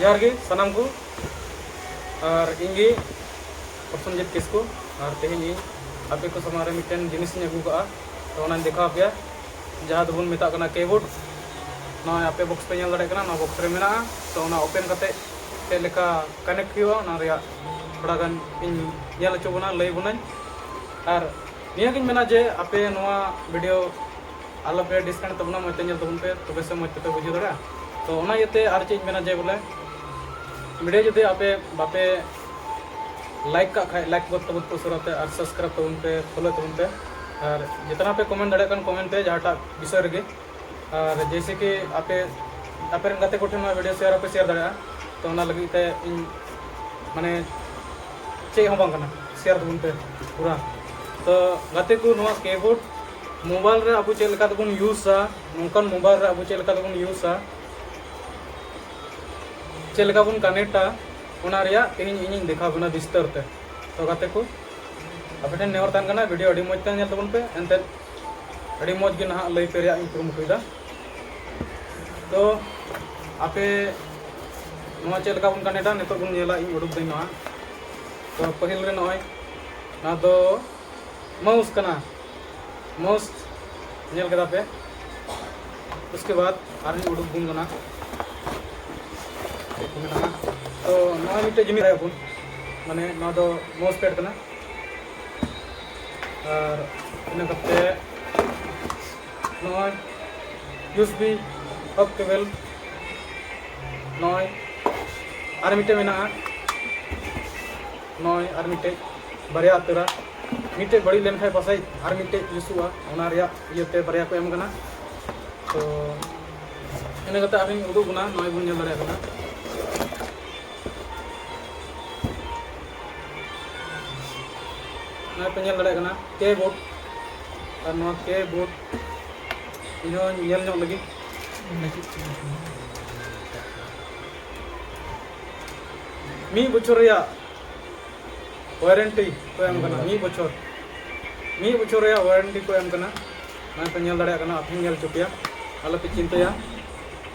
ᱡᱚᱦᱟᱨ ᱜᱮ ᱥᱟᱱᱟᱢ ᱠᱚ ᱟᱨ ᱤᱧ ᱜᱮ ᱯᱨᱚᱥᱚᱱᱡᱤᱛ ᱠᱤᱥᱠᱩ ᱟᱨ ᱛᱮᱦᱮᱧ ᱤᱧ ᱟᱯᱮ ᱠᱚ ᱥᱟᱢᱟᱝ ᱨᱮ ᱢᱤᱫᱴᱮᱱ ᱡᱤᱱᱤᱥ ᱤᱧ ᱟᱹᱜᱩ ᱠᱟᱜᱼᱟ ᱛᱚ ᱚᱱᱟᱧ ᱫᱮᱠᱷᱟᱣ ᱯᱮᱭᱟ ᱡᱟᱦᱟᱸ ᱫᱚᱵᱚᱱ ᱢᱮᱛᱟᱜ ᱠᱟᱱᱟ ᱠᱮᱵᱳᱨᱰ ᱱᱚᱣᱟ ᱟᱯᱮ ᱵᱚᱠᱥ ᱯᱮ ᱧᱮᱞ ᱫᱟᱲᱮᱭᱟᱜ ᱠᱟᱱᱟ ᱱᱚᱣᱟ ᱵᱚᱠᱥ ᱨᱮ ᱢᱮᱱᱟᱜᱼᱟ ᱛᱚ ᱚᱱᱟ ᱳᱯᱮᱱ ᱠᱟᱛᱮ ᱪᱮᱫ ᱞᱮᱠᱟ ᱠᱟᱱᱮᱠᱴ ᱦᱩᱭᱩᱜᱼᱟ ᱚᱱᱟ ᱨᱮᱭᱟᱜ ᱛᱷᱚᱲᱟ ᱜᱟᱱ ᱤᱧ ᱧᱮᱞ ᱦᱚᱪᱚ ᱵᱚᱱᱟ ᱞᱟᱹᱭ ᱵᱚᱱᱟᱹᱧ ᱟᱨ ᱱᱤᱭᱟᱹ ᱜᱤᱧ ᱢᱮᱱᱟ ᱡᱮ ᱟᱯᱮ ᱱᱚᱣᱟ ᱵᱷᱤᱰᱤᱭᱳ ᱟᱞᱚ ᱯᱮ ᱰᱤᱥᱠᱟᱱᱮᱠᱴ ᱛᱟᱵᱚᱱᱟ ᱢᱚᱡᱽ ᱛᱮ ᱧᱮᱞ ᱛᱟᱵᱚᱱ ᱯᱮ ᱛᱚᱵᱮ ᱥᱮ ᱢᱚᱡᱽ ᱛᱮᱯᱮ ᱵᱩᱡᱷᱟᱹᱣ ᱫᱟᱲᱮᱭᱟᱜᱼᱟ ᱛᱚ ᱚᱱᱟ ᱤᱭᱟᱹᱛᱮ ᱟᱨ ᱪᱮᱫ ᱤᱧ ᱢᱮᱱᱟ ᱡᱮ ᱵᱚᱞᱮ ᱵᱷᱤᱰᱤᱭᱳ ᱡᱩᱫᱤ ᱟᱯᱮ ᱵᱟᱯᱮ ᱞᱟᱭᱤᱠ ᱠᱟᱜ ᱠᱷᱟᱡ ᱞᱟᱭᱤᱠ ᱵᱚᱛ ᱛᱟᱵᱚᱱ ᱯᱮ ᱩᱥᱟᱹᱨᱟ ᱛᱮ ᱟᱨ ᱥᱟᱵᱥᱠᱨᱟᱭᱤᱵ ᱛᱟᱵᱚᱱ ᱯᱮ ᱯᱷᱚᱞᱳ ᱛᱟᱵᱚᱱ ᱯᱮ ᱟᱨ ᱡᱮᱛᱱᱟ ᱯᱮ ᱠᱚᱢᱮᱱᱴ ᱫᱟᱲᱮᱭᱟᱜ ᱠᱟᱱ ᱠᱚᱢᱮᱱᱴ ᱯᱮ ᱡᱟᱦᱟᱸᱴᱟᱜ ᱵᱤᱥᱚᱭ ᱨᱮᱜᱮ ᱟᱨ ᱡᱮᱭᱥᱮ ᱠᱤ ᱟᱯᱮ ᱟᱯᱮ ᱨᱮᱱ ᱜᱟᱛᱮ ᱠᱚᱴᱷᱮᱱ ᱱᱚᱣᱟ ᱵᱷᱤᱰᱤᱭᱳ ᱥᱮᱭᱟᱨ ᱦᱚᱸᱯᱮ ᱥᱮᱭᱟᱨ ᱫᱟᱲᱮᱭᱟᱜᱼᱟ ᱛᱚ ᱚᱱᱟ ᱞᱟᱹᱜᱤᱫ ᱛᱮ ᱤᱧ ᱢᱟᱱᱮ ᱪᱮᱫ ᱦᱚᱸ ᱵᱟᱝ ᱠᱟᱱᱟ ᱥᱮᱭᱟᱨ ᱛᱟᱵᱚᱱ ᱯᱮ ᱯᱩᱨᱟ ᱛᱚ ᱜᱟᱛᱮ ᱠᱚ ᱱᱚᱣᱟ ᱠᱤᱵᱳᱨᱰ ᱢᱳᱵᱟᱭᱤᱞ ᱨᱮ ᱟᱵᱚ ᱪᱮᱫ ᱞᱮᱠᱟ ᱛᱮᱵᱚᱱ ᱤᱭᱩᱡᱟ ᱱᱚᱝᱠᱟᱱ ᱢᱳᱵᱟᱭᱤᱞ ᱨᱮ ᱟᱵᱚ ᱪᱮᱫ ᱞᱮᱠᱟ ᱛᱮᱵᱚᱱ ᱤᱭᱩᱡᱟ ᱪᱮᱫ ᱞᱮᱠᱟ ᱵᱚᱱ ᱠᱟᱱᱮᱠᱴᱟ ᱚᱱᱟ ᱨᱮᱭᱟᱜ ᱛᱮᱦᱮᱧ ᱤᱧᱤᱧ ᱫᱮᱠᱷᱟᱣ ᱵᱚᱱᱟ ᱵᱤᱥᱛᱟᱨ ᱛᱮ ᱛᱚ ᱜᱟᱛᱮ ᱠᱚ ᱟᱯᱮ ᱴᱷᱮᱱ ᱱᱮᱦᱚᱨ ᱛᱟᱦᱮᱱ ᱠᱟᱱᱟ ᱵᱷᱤᱰᱤᱭᱳ ᱟᱹᱰᱤ ᱢᱚᱡᱽ ᱛᱮ ᱧᱮᱞ ᱛᱟᱵᱚᱱ ᱯᱮ ᱮᱱᱛᱮᱫ ᱟᱹᱰᱤ ᱢᱚᱡᱽ ᱜᱮ ᱱᱟᱦᱟᱜ ᱞᱟᱹᱭ ᱯᱮ ᱨᱮᱭᱟᱜ ᱤᱧ ᱠᱩᱨᱩᱢᱩᱴᱩᱭᱮᱫᱟ ᱛᱚ ᱟᱯᱮ ᱱᱚᱣᱟ ᱪᱮᱫ ᱞᱮᱠᱟ ᱵᱚᱱ ᱠᱟᱱᱮᱠᱴᱟ ᱱᱤᱛᱚᱜ ᱵᱚᱱ ᱧᱮᱞᱟ ᱤᱧ ᱩᱰᱩᱠ ᱫᱟᱹᱧ ᱱᱚᱣᱟ ᱛᱚ ᱯᱟᱹᱦᱤᱞ ᱨᱮ ᱱᱚᱜᱼᱚᱭ ᱱᱚᱣᱟ ᱫᱚ ᱢᱟᱣᱩᱥ ᱠᱟᱱᱟ ᱢᱟᱣᱩᱥ ᱧᱮᱞ ᱠᱮᱫᱟ ᱯᱮ उसके बाद ᱟᱨᱦᱚᱸ ᱩᱰᱩᱠ ᱵᱚᱱ ᱠᱟᱱᱟ ᱪᱮᱫ ᱠᱚ ᱢᱮᱱᱟᱜᱼᱟ ᱛᱚ ᱱᱚᱜᱼᱚᱭ ᱢᱤᱫᱴᱮᱡ ᱡᱤᱱᱤᱥ ᱵᱚᱱ ᱢᱟᱱᱮ ᱱᱚᱣᱟ ᱫᱚ ᱢᱟᱣᱩᱥ ᱯᱮᱰ ᱠᱟᱱᱟ ᱟᱨ ᱤᱱᱟᱹ ᱠᱟᱛᱮ ᱱᱚᱜᱼᱚᱭ ᱡᱩᱥ ᱵᱤ ᱚᱯ ᱴᱮᱵᱮᱞ ᱱᱚᱜᱼᱚᱭ ᱟᱨ ᱢᱤᱫᱴᱮᱡ ᱢᱮᱱᱟᱜᱼᱟ ᱱᱚᱜᱼᱚᱭ ᱟᱨ ᱢᱤᱫᱴᱮᱡ ᱵᱟᱨᱭᱟ ᱩᱛᱟᱹᱨᱟ ᱢᱤᱫᱴᱮᱡ ᱵᱟᱹᱲᱤᱡ ᱞᱮᱱᱠᱷᱟᱡ ᱯᱟᱥᱮᱡ ᱟᱨ ᱢᱤᱫᱴᱮᱡ ᱡᱩᱥᱩᱜᱼᱟ ᱚᱱᱟ ᱨᱮᱭᱟᱜ ᱤᱭᱟᱹᱛᱮ ᱵᱟᱨᱭᱟ ᱠᱚ ᱮᱢ ᱠᱟᱱᱟ ᱛᱚ ᱤᱱᱟᱹ ᱠᱟᱛᱮ ᱟᱨᱦᱚᱸᱧ ᱩᱫᱩᱜ ᱵᱚᱱᱟ ᱱᱚᱜᱼᱚᱭ ᱵᱚᱱ ᱧᱮᱞ ᱫᱟᱲᱮᱭᱟᱜ ᱠᱟᱱᱟ ᱱᱚᱜᱼᱚᱭ ᱯᱮ ᱧᱮᱞ ᱫᱟᱲᱮᱭᱟᱜ ᱠᱟᱱᱟ ᱠᱮ ᱵᱳᱴ ᱟᱨ ᱱᱚᱣᱟ ᱠᱮ ᱵᱳᱴ ᱤᱧᱦᱚᱸ ᱧᱮᱞ ᱧᱚᱜ ᱞᱟᱹᱜᱤᱫ ᱢᱤᱫ ᱵᱚᱪᱷᱚᱨ ᱨᱮᱭᱟᱜ ᱳᱣᱟᱨᱮᱱᱴᱤ ᱠᱚ ᱮᱢ ᱠᱟᱱᱟ ᱢᱤᱫ ᱵᱚᱪᱷᱚᱨ ᱢᱤᱫ ᱵᱚᱪᱷᱚᱨ ᱨᱮᱭᱟᱜ ᱳᱣᱟᱨᱮᱱᱴᱤ ᱠᱚ ᱮᱢ ᱠᱟᱱᱟ ᱱᱚᱜᱼᱚᱭ ᱯᱮ ᱧᱮᱞ ᱫᱟᱲᱮᱭᱟᱜ ᱠᱟᱱᱟ ᱟᱯᱮ ᱧᱮᱞ ᱦᱚᱪᱚ ᱯᱮᱭᱟ ᱟᱞᱚᱯᱮ ᱪᱤᱱᱛᱟᱹᱭᱟ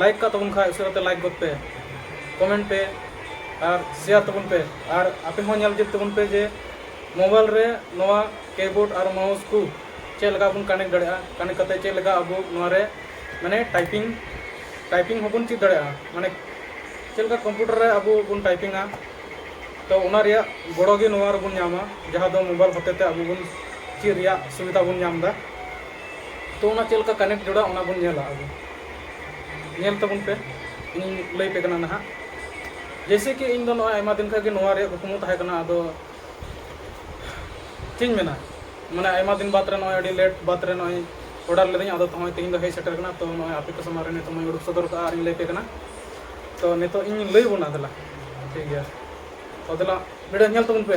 ᱞᱟᱭᱤᱠ ᱠᱟᱜ ᱛᱟᱵᱚᱱ ᱠᱷᱟᱡ ᱩᱥᱟᱹᱨᱟ ᱛᱮ ᱞᱟᱭᱤᱠ ᱜᱚᱫ ᱯᱮ ᱠᱚᱢᱮᱱᱴ ᱯᱮ ᱟᱨ ᱥᱮᱭᱟᱨ ᱛᱟᱵᱚᱱ ᱯᱮ ᱟᱨ ᱟᱯᱮ ᱦᱚᱸ ᱧᱮᱞ ᱪᱮᱫ ᱛᱟᱵᱚᱱ ᱯᱮ ᱡᱮ ᱢᱳᱵᱟᱭᱤᱞ ᱨᱮ ᱱᱚᱣᱟ ᱠᱤᱵᱳᱨᱰ ᱟᱨ ᱢᱟᱣᱩᱥ ᱠᱚ ᱪᱮᱫ ᱞᱮᱠᱟ ᱵᱚᱱ ᱠᱟᱱᱮᱠᱴ ᱫᱟᱲᱮᱭᱟᱜᱼᱟ ᱠᱟᱱᱮᱠᱴ ᱠᱟᱛᱮ ᱪᱮᱫ ᱞᱮᱠᱟ ᱟᱵᱚ ᱱᱚᱣᱟ ᱨᱮ ᱢᱟᱱᱮ ᱴᱟᱭᱯᱤᱝ ᱴᱟᱭᱯᱤᱝ ᱦᱚᱸᱵᱚᱱ ᱪᱮᱫ ᱫᱟᱲᱮᱭᱟᱜᱼᱟ ᱢᱟᱱᱮ ᱪᱮᱫ ᱞᱮᱠᱟ ᱠᱚᱢᱯᱤᱭᱩᱴᱟᱨ ᱨᱮ ᱟᱵᱚ ᱵᱚᱱ ᱴᱟᱭᱯᱤᱝᱟ ᱛᱚ ᱚᱱᱟ ᱨᱮᱭᱟᱜ ᱜᱚᱲᱚ ᱜᱮ ᱱᱚᱣᱟ ᱨᱮᱵᱚᱱ ᱧᱟᱢᱟ ᱡᱟᱦᱟᱸ ᱫᱚ ᱢᱳᱵᱟᱭᱤᱞ ᱦᱚᱛᱮ ᱛᱮ ᱟᱵᱚ ᱵᱚᱱ ᱪᱮᱫ ᱨᱮᱭᱟᱜ ᱥᱩᱵᱤᱫᱷᱟ ᱵᱚᱱ ᱧᱟᱢᱫᱟ ᱛᱚ ᱚᱱᱟ ᱪᱮᱫ ᱞᱮᱠᱟ ᱠᱟᱱᱮᱠᱴ ᱡᱚᱲᱟᱜ ᱚᱱᱟ ᱵᱚᱱ ᱧᱮᱞᱟ ᱟᱵᱚ ᱧᱮᱞ ᱛᱟᱵᱚᱱ ᱯᱮ ᱤᱧ ᱞᱟᱹᱭ ᱯᱮ ᱠᱟᱱᱟ ᱱᱟᱦᱟᱜ ᱡᱮᱭᱥᱮ ᱠᱤ ᱤᱧ ᱫᱚ ᱱᱚᱜᱼᱚᱭ ᱟᱭᱢᱟ ᱫᱤᱱ ᱠᱷᱚᱱ ᱜᱮ ᱱᱚᱣᱟ ᱨᱮᱭᱟᱜ ᱠᱩᱠᱢᱩ ᱛᱟᱦᱮᱸ ᱠᱟᱱᱟ ᱟᱫᱚ ᱪᱮᱫ ᱤᱧ ᱢᱮᱱᱟ ᱢᱟᱱᱮ ᱟᱭᱢᱟ ᱫᱤᱱ ᱵᱟᱫᱽ ᱨᱮ ᱱᱚᱜᱼᱚᱭ ᱟᱹᱰᱤ ᱞᱮᱴ ᱵᱟᱫᱽ ᱨᱮ ᱱᱚᱜᱼᱚᱭ ᱚᱰᱟᱨ ᱞᱮᱫᱟᱹᱧ ᱟᱫᱚ ᱱᱚᱜᱼᱚᱭ ᱛᱮᱦᱮᱧ ᱫᱚ ᱦᱮᱡ ᱥᱮᱴᱮᱨ ᱠᱟᱱᱟ ᱛᱚ ᱱᱚᱜᱼᱚᱭ ᱟᱯᱮ ᱠᱚ ᱥᱟᱢᱟᱝ ᱨᱮ ᱱᱤᱛᱚᱜ ᱢᱟᱹᱧ ᱩᱰᱩᱠ ᱥᱚᱫᱚᱨ ᱠᱟᱜᱼᱟ ᱟᱨᱤᱧ ᱞᱟᱹᱭ ᱯᱮ ᱠᱟᱱᱟ ᱛᱚ ᱱᱤᱛᱚᱜ ᱤᱧ ᱞᱟᱹᱭ ᱵᱚᱱᱟ ᱫᱮᱞᱟ ᱴᱷᱤᱠ ᱜᱮᱭᱟ ᱛᱚ ᱫᱮᱞᱟ ᱵᱷᱤᱰᱤᱭᱳ ᱧᱮᱞ ᱛᱟᱵᱚᱱ ᱯᱮ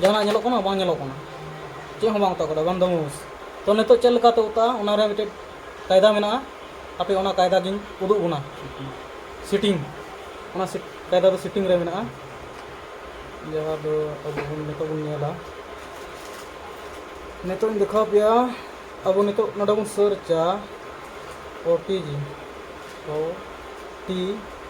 ᱡᱟᱦᱟᱱᱟᱜ ᱧᱮᱞᱚᱜ ᱠᱟᱱᱟ ᱵᱟᱝ ᱧᱮᱞᱚᱜ ᱠᱟᱱᱟ ᱪᱮᱫ ᱦᱚᱸ ᱵᱟᱝ ᱚᱛᱟ ᱠᱟᱫᱟ ᱵᱟᱝ ᱫᱟᱢᱩᱥ ᱛᱚ ᱱᱤᱛᱚᱜ ᱪᱮᱫ ᱞᱮᱠᱟᱛᱮ ᱚᱛᱟᱜᱼᱟ ᱚᱱᱟ ᱨᱮ ᱢᱤᱫᱴᱮᱡ ᱠᱟᱭᱫᱟ ᱢᱮᱱᱟᱜᱼᱟ ᱟᱯᱮ ᱚᱱᱟ ᱠᱟᱭᱫᱟ ᱜᱤᱧ ᱩᱫᱩᱜ ᱵᱚᱱᱟ ᱥᱤᱴᱤᱝ ᱚᱱᱟ ᱠᱟᱭᱫᱟ ᱫᱚ ᱥᱤᱴᱤᱝ ᱨᱮ ᱢᱮᱱᱟᱜᱼᱟ ᱡᱟᱦᱟᱸ ᱫᱚ ᱟᱵᱚ ᱵᱚᱱ ᱱᱤᱛᱚᱜ ᱵᱚᱱ ᱧᱮᱞᱟ ᱱᱤᱛᱚᱜ ᱤᱧ ᱫᱮᱠᱷᱟᱣ ᱯᱮᱭᱟ ᱟᱵᱚ ᱱᱤᱛᱚᱜ ᱱᱚᱰᱮ ᱵᱚᱱ ᱥᱟᱨᱪᱟ O T G O T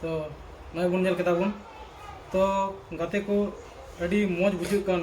ᱛᱚ ᱱᱚᱜᱼᱚᱭ ᱵᱚᱱ ᱧᱮᱞ ᱠᱮᱫᱟ ᱵᱚᱱ ᱛᱚ ᱜᱟᱛᱮ ᱠᱚ ᱟᱹᱰᱤ ᱢᱚᱡᱽ ᱵᱩᱡᱷᱟᱹᱜ ᱠᱟᱱ